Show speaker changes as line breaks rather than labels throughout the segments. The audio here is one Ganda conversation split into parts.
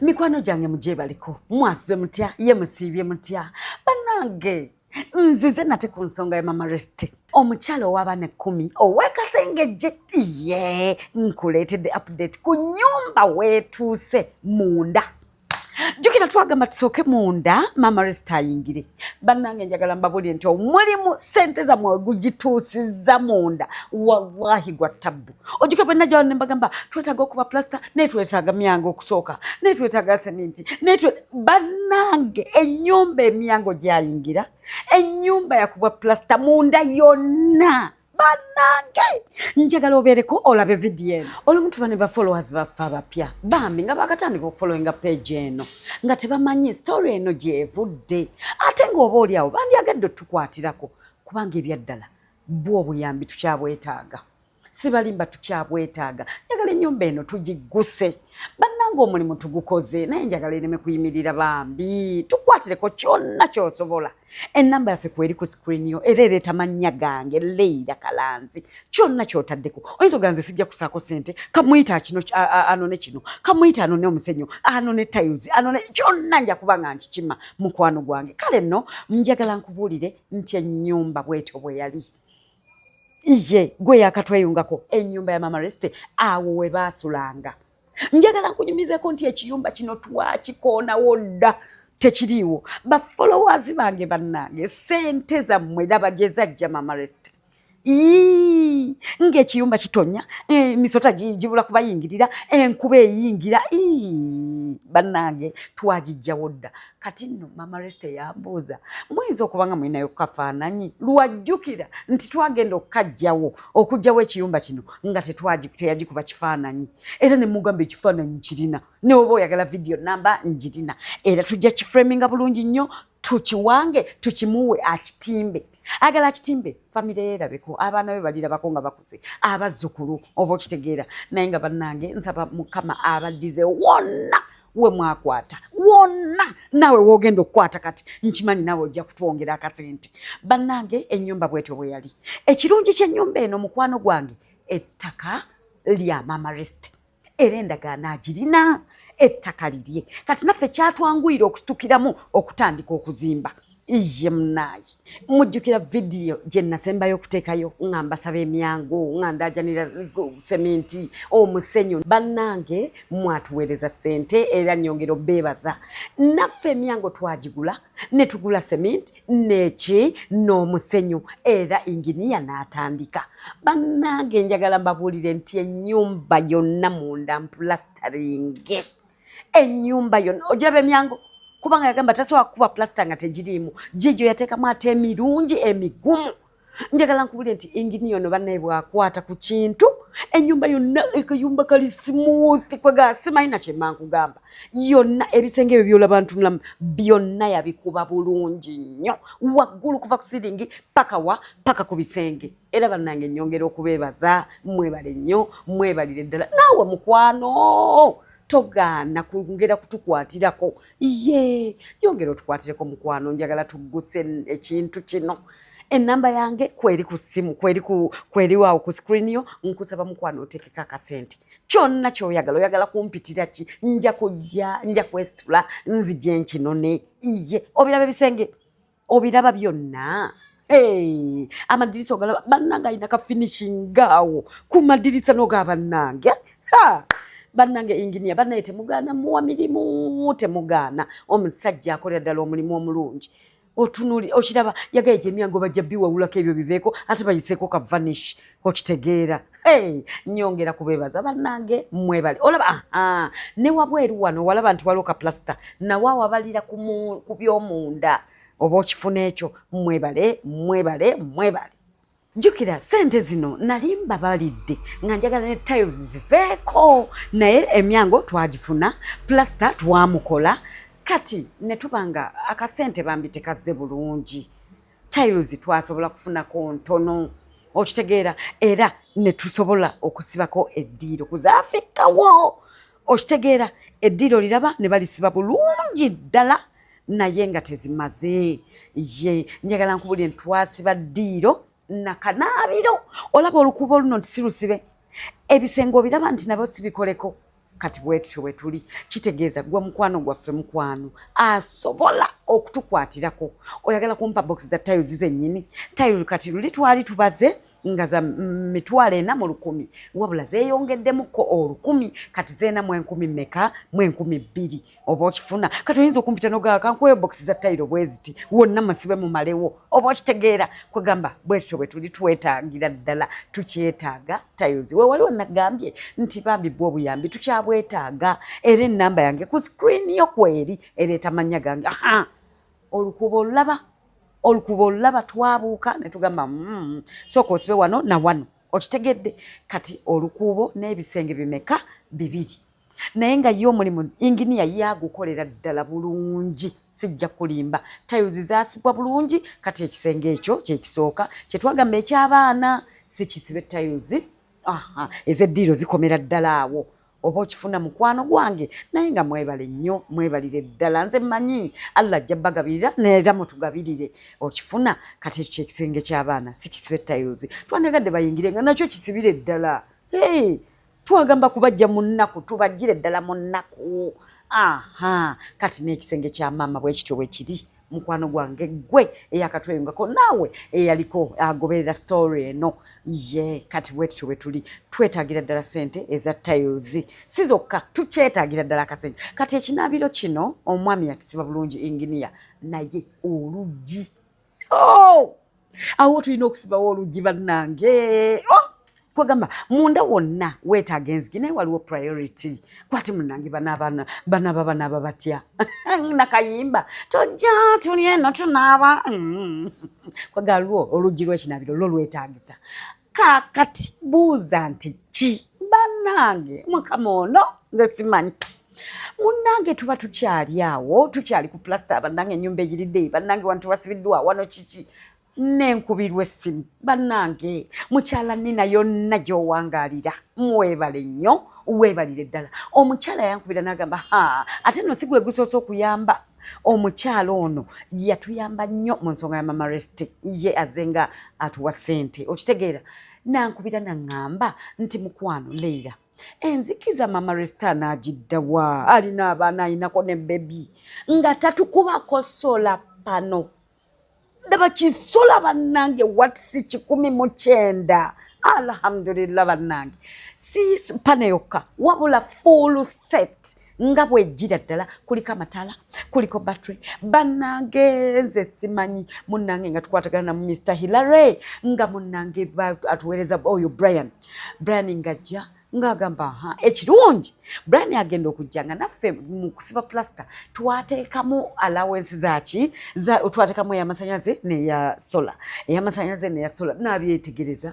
mikwano gyange mugyebaliko mwasuze mutya ye musiibye mutya banange nzize nate ku nsonga ya mama reste omukyala ow'abaana ekkumi ow'ekasengejje ye nkuleetedde update ku nyumba weetuuse munda jukira twagamba tusooke munda mama reste ayingire bannange njagala mbabulire nti omulimu sente zamwe gugituusizza munda wallahi gwa ttabbu ojuke bwe najjawo ne mbagamba twetaaga okuba plasita naye twetaaga myango okusooka naye twetaaga seminti naye bannange ennyumba emyango gyayingira ennyumba yakubwa plasita munda yonna banange njagala obeereko olabe vidiyo eno olumu tuba ne bafollowers baffe abapya bambi nga bakatandika okufollowinga page eno nga tebamanyi story eno gyevudde ate ngaoba oli awo bandyagadde otukwatirako kubanga ebyaddala bwo obuyambi tukyabwetaaga sibalimba tukyabwetaaga njagala ennyumba eno tugigguse bannanga omulimu tugukoze naye njagala ereme kuyimirira bambi tukwatireko kyonna kyosobola enamba yaffe kweri ku screen yo era ereeta mannya gange leira kalanzi kyonna kyotaddeko oyinza oganze sijja kusaako sente kamuyita kino anone kino kamuyita anone omusenyu anone tiles anone kyonna nja kuba nga nkikima mukwano gwange kale nno njagala nkubuulire nti ennyumba bwetyo bwe yali iye gwe yakatweyungako enyumba ya mama reste awo we baasulanga njagala nkunyumizeko nti ekiyumba kino twakikoonawo dda tekiriiwo bafollowers bange bannange sente zammwe laba gye zajja mama reste ii ng'ekiyumba kitonya emisota eh, gibula kubayingirira enkuba eyingira ii bannange twagijjawo dda kati nno mama resita yambuuza muyinza okuba nga mulinayo kukafaananyi lwajjukira nti twagenda okukajjawo okugjawo ekiyumba kino nga teteyagikuba kifaananyi era ne mugamba ekifaananyi kirina newoba oyagala vidiyo namba njirina era tujja kiframinga bulungi nnyo tukiwange tukimuwe akitimbe agala akitimbe famire yerabeko abaana be balirabako nga bakuze abazzukulu oba okitegeera naye nga bannange nsaba mukama abaddize wonna we mwakwata wonna naawe wogenda okukwata kati nkimanyi naawe ojja kutwongera akasente bannange ennyumba bwetyo bwe yali ekirungi ky'ennyumba eno mukwano gwange ettaka lya mama rest era endagaano agirina ettaka lirye kati naffe kyatwanguyira okusitukiramu okutandika okuzimba iye munaye mujjukira vidiyo gye nasembayo okuteekayo nga mbasaba emyangu nga ndajanira seminti omusenyu bannange mwatuweereza sente era nyongera obeebaza naffe emyango twagigula ne tugula seminti neki n'omusenyu era inginiya n'atandika bannange njagala mbabuulire nti ennyumba yonna munda mpulasitaringe enyumba yona ogiraba emyango kubanga yagamba tasobola kukuba plasita nga tegiriimu gigyo yateekamu ate emirungi emigumu njagala nkubulire nti engini yono banaye bwakwata ku kintu enyumba yonna ekayumba kali smooth kwegasimayina kyemankugamba yonna ebisenge ebyo byolaba ntunulamu byonna yabikuba bulungi nnyo waggulu kuva ku siringi paka wa paka ku bisenge era bannange nyongera okubeebaza mwebale nnyo mwebalire ddala naawe mukwano togaana kungera kutukwatirako ye yongera otukwatireko mukwano njagala tugguse ekintu kino enamba yange kweri ku ssimu kweri kweri waawo ku screen yo nkusaba mukwano otekeko akasente kyonna kyoyagala oyagala kumpitira ki nja kujja nja kwesitula nzije nkinone iye obiraba ebisenge obiraba byonna Hey, amadirisa ogalaba bannange alina ka finishing awo ku madirisa noga bannange bannange enginia bannaye temugaana muwa mirimu temugaana omusajja akolera ddala omulimu omulungi otunuli okiraba yagaye gyemyango bajja biwawulako ebyo biveeko ate bayiseeko ka vanish okitegeera hey, nyongera kubebaza banange mwebale olaba aha ne wabweru wano walaba nti waliwo kaplasita nawe awabalira ku byomunda oba okifuna ekyo mwebale mwebale mwebale jukira sente zino nali mbabalidde nga njagala ne tiles ziveeko naye emyango twagifuna plasita twamukola kati ne tuba nga akasente bambi tekazze bulungi tiles twasobola kufunako ntono okitegeera era ne tusobola okusibako eddiiro kuzaafikawo okitegeera eddiiro liraba ne balisiba bulungi ddala naye nga tezimaze ye njagala nkubulire ntwasiba ddiiro nakanaabiro olaba olukuubo luno nti sirusibe ebisenge obiraba nti nabyo sibikoleko kati bwetutyo wetuli kitegeeza gwa mukwano gwaffe mukwano asobola okutukwatirako oyagala kumpa box za tiles zennyini tile kati luli twali tubaze nga za mitwalo ena mu lukumi wabula zeyongeddemukko olukumi kati zeena mu enkumi meka mu enkumi bbiri oba okifuna kati oyinza okumpita nogaaka nkuwe bokisi za tayiro bweziti wonna musibe mumalewo oba okitegeera kwegamba bwetyo bwe tuli twetaagira ddala tukyetaaga tayozi we waliwo nagambye nti bambi bwa obuyambi tukyabwetaaga era enamba yange ku sikrini yo kweri ereeta mannya gange aha olukuba olulaba olukuba olulaba twabuuka ne tugamba mm, sooka osibe wano na wano okitegedde kati olukuubo n'ebisenge bimeka bibiri naye nga ye omulimu inginiya ye agukolera ddala bulungi sijja kulimba tayuzi zasibwa bulungi kati ekisenge ekyo kyekisooka kyetwagamba ekyabaana sikisibe tayuzi aha ezeddiiro zikomera ddala awo oba okifuna mukwano gwange naye nga mwebale nnyo mwebalire ddala nze mmanyi allah ajja bagabirira neera mutugabirire okifuna kati ekyo kyekisenge kyabaana sikisibe tayuzi twandegadde bayingire nga nakyo kisibire ddala hey! twagamba kubajja mu nnaku tubajjire ddala mu nnaku aha kati n'ekisenge kya maama bwekityo bwe kiri mukwano gwange gwe eyakatweyungako naawe eyaliko agoberera story eno ye kati bwetutyo bwe tuli twetagira ddala sente eza tiles si zokka tukyetagira ddala akasente kati ekinaabiro kino omwami yakisiba bulungi inginiya naye oluggi Oh! awo tulina okusibawo oluggi bannange oh! kwegamba munda wonna weetaaga enzigi naye waliwo priority kwati munange banaabana banaaba banaaba batya nakayimba tojja tuli eno tunaaba mm. kwegaliwo oluggi lwekinaabiro lwo lwetaagisa kaakati buuza nti ki bannange mukama ono nze simanyi munnange tuba tukyali awo tukyali ku pulasita bannange ennyumba eyiridde bannange wano tubasibiddwa wano kiki nenkubirwa essimu bannange mukyala nina yonna gy'owangaalira mwebale nnyo weebalire ddala omukyala yankubira n'agamba ha ate no si gwe gusoose okuyamba omukyala ono yatuyamba nnyo mu nsonga ya mama rest ye aze nga atuwa sente okitegeera nankubira naŋŋamba nti mukwano leira enzikiza mama resta anaagiddawa alina abaana ayinako ne bebi nga tatukubako sola pano ndaba kisula bannange watisi kikumi mu kyenda alhamdulillah bannange si pane yokka wabula full set nga bwejjira ddala kuliko amataala kuliko battery bannange nze simanyi munnange nga tukwatagana na mr hillary nga munnange atuweereza oyo brian brian ngajja ng'agamba ha ekirungi brian agenda okujja nga naffe mu kusiba plasita twateekamu alawensi zaki twateekamu eyamasanyalaze neya sola eyamasanyalaze neya sola nabyetegereza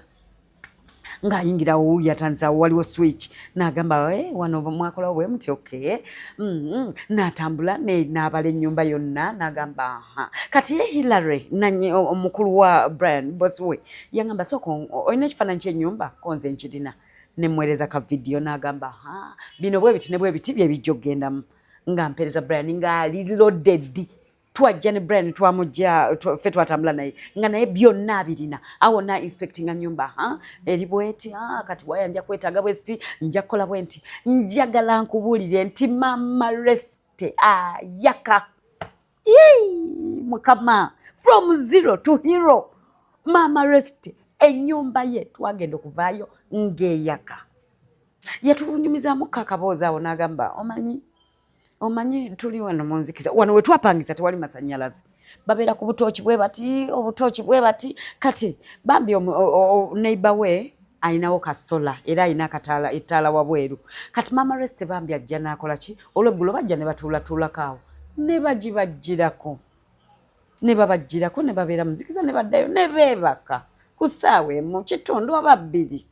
ng'ayingira wo yatandisa waliwo switch n'agamba eh, wano mwakolawo bwe muti oke mm-hmm. n'atambula n'abala ennyumba yonna n'agamba ha kati ye hillary omukulu wa brian bosi we yangamba sooka olina ekifaananyi kyenyumba konze nkirina nemwereza ka vidiyo nagamba ha bino bwe biti ne bwe biti bye bijja okugendamu nga mpereza brian ngaali loaded twajja ne brian twamujja ffe twatambula naye nga naye byonna abirina awo na inspectinga nyumba ha eri bweti ha kati waya nja kwetaaga bweziti nja kukola bwenti njagala nkubuulire nti mama reste ayaka ah, Yee, mukama from zero to hero maama rest enyumba ye twagenda okuvaayo ng'eyaka yatulunyumizamu kakaboozi awo n'agamba omanyi omanyi tuli wano munzikiza wano wetwapangisa tewali masanyalaze babeera ku butooki bwe bati obutooki bwe bati kati bambi neighbor we alinawo ka sola era alina akataala ettaala wabweru kati maama resite bambi ajja naakola ki olweggulo bajja ne batuulatuulako awo ne bagibajjirako ne babajjirako ne babeera muzikiza ne baddayo ne beebaka ku ssaawa emu kitundu oba bbiri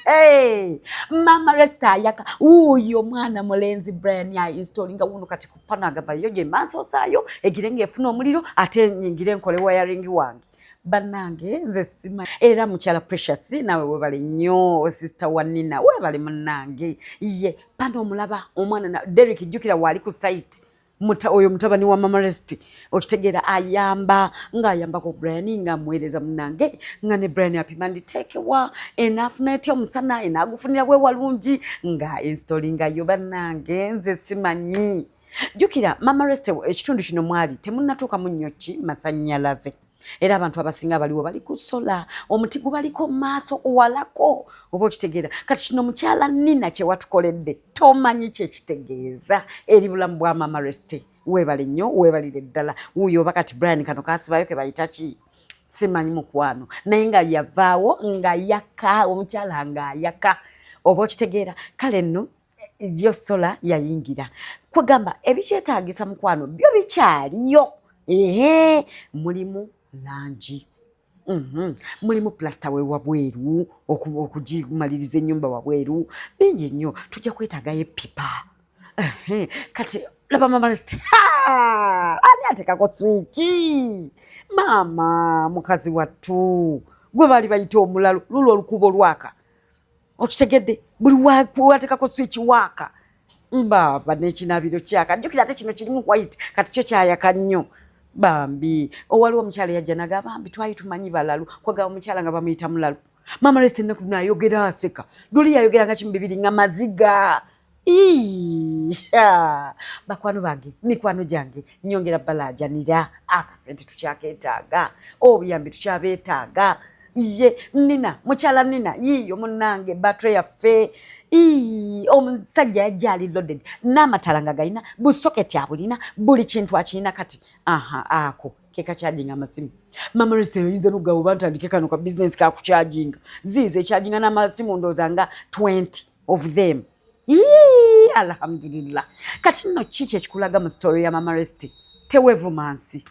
Hey, mama resta ayaka wuuyo mwana mulenzi brian ya installinga wuno kati kupano agamba yo gye mansi osaayo egire ng'efuna omuliro ate nyingire nkole wayaringi wange banange nze sima era mukyala precious nawe webale nnyo sister wa nina webale munange ye pano omulaba omwana na derik jjukira waali ku site muta oyo mutabani wa mama rest okitegeera ayamba ngaayambako brian ngaamuweereza munange nga ne brian apima nditeekewa enaafuna etya omusana enaagufunira bwe walungi nga enstolingayo banange nze simanyi jjukira mama reste ekitundu kino mwali temunnatuukamu nnyo ki masannyalaze era abantu abasinga abaliwo bali ku sola omuti gubaliko maaso walako oba okitegeera kati kino mukyala nina kyewatukoledde tomanyi kyekitegeeza eri bulamu bwa mama reste webale nnyo webalire ddala wuyo oba kati brian kano kasibayo kebayita ki simanyi mukwano naye nga yavaawo nga yaka omukyala nga yaka oba okitegeera kale nno yo sola yayingira kwegamba ebikyetagisa mukwano byo bikyaliyo ehe mulimu langi mhm. mulimu plasita wewabweru okugimaliriza enyumba wabweru bingi nnyo tujja kwetagayo epipa kati laba mama rest ani atekako switi maama mukazi wattu gwe baali bayita omulalu lulwo olukuba olwaka okitegedde buli watekako switch waaka mbaaba nekinabiro kyaka jukira ate kino kirimu white kati kyo kyayaka nnyo bambi owaliwo omukyala yajja naga bambi twali tumanyi balalu kwagaba omukyala nga bamuyita mulalu mama rest ennaku zinayogera aseka duli yayogeranga kimu bibiri nga maziga bakwano bange mikwano gyange nyongera balajanira akasente ah, tukyaketaaga obuyambi oh, tukyabetaaga ye nina mukyala nina yiiyo munange batre yaffe omusajja yajja ali loaded n'amatala nga galina busoketi abulina buli kintu akirina kati aha ako kekakyajinga amasimu memories teyinza nogaba oba ntandike kano ka bizinesi kakukyajinga ziiza ekyajinga n'amasimu ndooza nga 20 of them Yee, alhamdulillah kati nno ki kyekikulaga mu story ya mama resti tewevuma nsi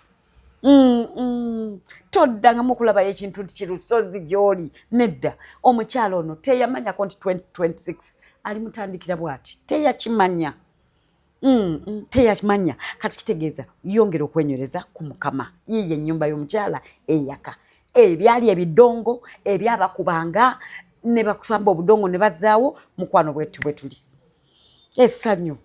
mm, mm. toddangamu okulabayo ekintu nti kirusozi gyoli nedda omukyalo ono teyamanyako nti 2026 alimutandikira bwati teyakimanya Mm, mm, teyakimanya kati kitegeeza yongera okwenywereza ku mukama yiye ennyumba y'omukyala eyaka ebyali ebidongo ebyabakubanga ne bakusamba obudongo ne bazaawo mukwano bwetu bwe tuli esanyu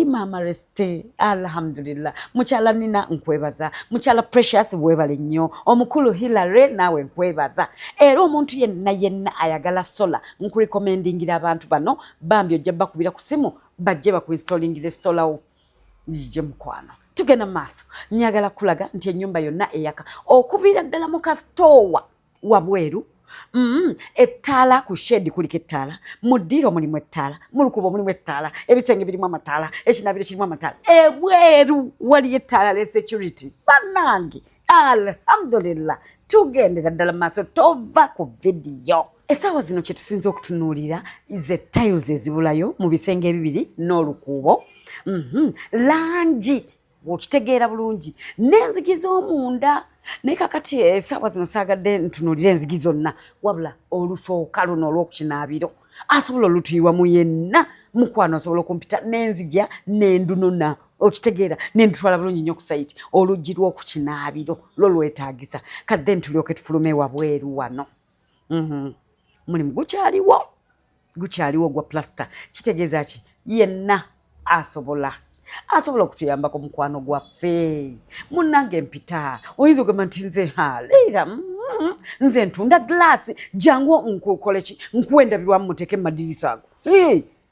maama reste alhamdulillah mukyala nina nkwebaza mukyala precious webale nnyo omukulu hilary naawe nkwebaza era omuntu yenna yenna ayagala sola nkurekomendingira abantu bano bambi ojja bakubira ku simu bajje bakuinstallingire esitolawo ye mukwano tugenda mu maaso njagala kulaga nti ennyumba yonna eyaka okuviira ddala mu kasitoowa wabweru Mm, ettaala ku shedi kuliko ettaala mu ddiiro mulimu ettaala mu lukubo mulimu ettaala ebisenge birimu amataala ekinabiro kirimu amataala ebweru waliyo ettaala le security banange alhamdulillah tugendera ddala maaso tova ku vidiyo Essaawa zino kye tusinza okutunuulira ze tiles ezibulayo mu bisenge ebibiri n'olukuubo mhm. langi okitegeera bulungi n'enzigi z'omunda naye kakati esaawa eh, zino saagadde ntunuulire enzigi zonna wabula olusooka luno olw'okukinaabiro asobola olutuyiwa mu yenna mukwano asobola okumpita n'enzigya n'endunona okitegeera nendutwala bulungi nyo kusaiti oluggi lw'okukinaabiro lwo lwetaagisa kadde ntulyoke tufulume wabweru wano Mhm. Omulimu gukyaliwo, gukyaliwo gwa pulasita. Kitegeeza ki? Yenna asobola asobola okutuyambako mukwano gwaffe munnange mpita oyinza ogamba nti nze haleera mm-hmm. nze ntunda gilasi jangu nkukoleki nkuwa endabirwamu muteeke mumadirisa ago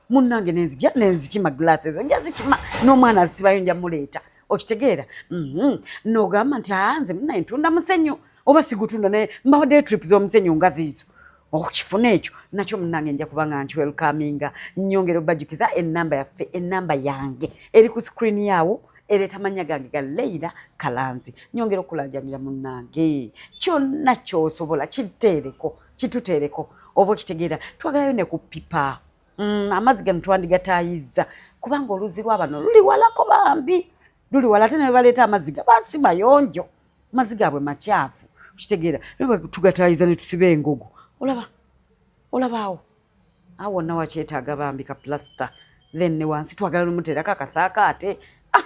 munnange nenzija nenzikima glass ezo nja zikima n'omwana azisibayo nja muleeta okitegeera mhm. nogamba nti anze munaye ntunda musenyu oba sigutunda naye mbawaddeyo trip z'omusenyu nga ziizo okukifuna oh, ekyo nakyo munange nja kuba nga nkiwelkaminga nyongera obajukiza enamba yaffe enamba yange eri ku screen yaawo ereeta amannya gange ga leira kalanzi nyongera okulajanira munange kyonna kyosobola kiteereko kituteereko oba okitegeera twagalayo ne ku pipa mm, amazzi gano twandigatayizza kubanga oluzzi lwa bano luli walako bambi luli wala ate nebaleeta amazzi ga basi mayonjo amazzi gaabwe makyafu okitegeera tugatayiza ne tusiba engogo olaba olabaawo awo wonna wakyetaaga bambi ka plasita then ne wansi twagala lumuteerako akasaako ate ah,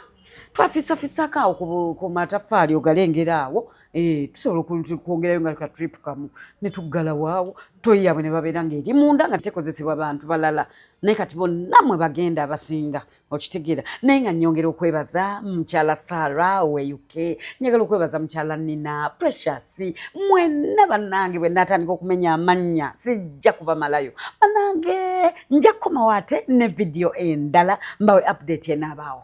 twafisafisako awo ku mataffaali ogalengera awo eh, tusobola okwongerayo nga ka trip kamu ne tuggalawo awo toyi yabwe ne babeera ng'eri munda nga tekozesebwa bantu balala naye kati bonna mwe bagenda abasinga okitegeera naye nga nyongera okwebaza mukyala sara owe uk njagala okwebaza mukyala nina precious mwena banange bwe natandika okumenya amannya sijja kubamalayo banange nja kukomawo ate ne vidiyo endala mbawe update enaabaawo